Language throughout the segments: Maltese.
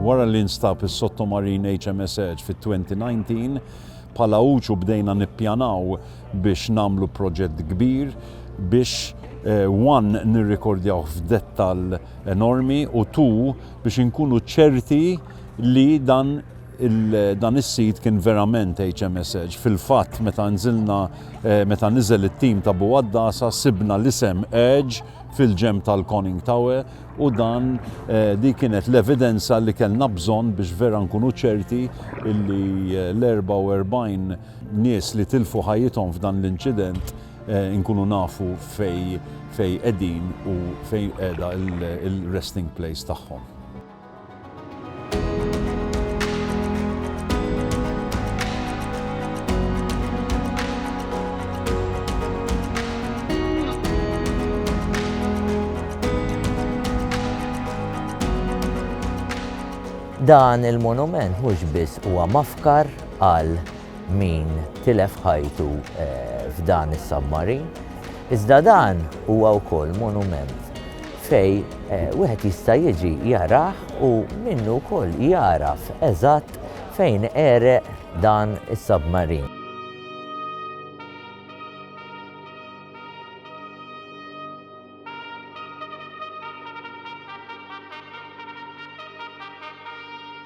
Wara li nstab is-sottomarin HMS Edge fit-2019, bħala UCU bdejna nippjanaw biex nagħmlu proġett kbir biex one eh, nirrikordjawh f'dettall enormi u two biex inkunu ċerti li dan dan is-sit kien verament HMS Edge. Fil-fatt meta nżilna eh, meta niżel it-tim ta' Buwaddasa sibna l-isem Edge fil-ġenb tal-Conning Tower u dan di kienet l-evidenza li kellna bżonn biex vera nkunu ċerti li l-44 nies li tilfu ħajjithom f'dan l-inċident nkunu nafu fej qegħdin u fej qiegħda il-resting place tagħhom. Dan il-monument mhux biss huwa mafkar għal min tilef ħajtu eh, f'dan is-submarin, iżda dan huwa wkoll monument fej wieħed jista' jiġi jarah u minnu wkoll jagħraf eżatt fejn għereq dan is-submarin.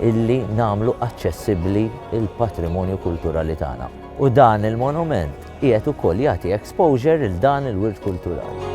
illi nagħmlu aċċessibbli l-patrimonju kulturali tagħna. U dan il-monument qiegħed ukoll jagħti exposure lil dan il-wirt kulturali.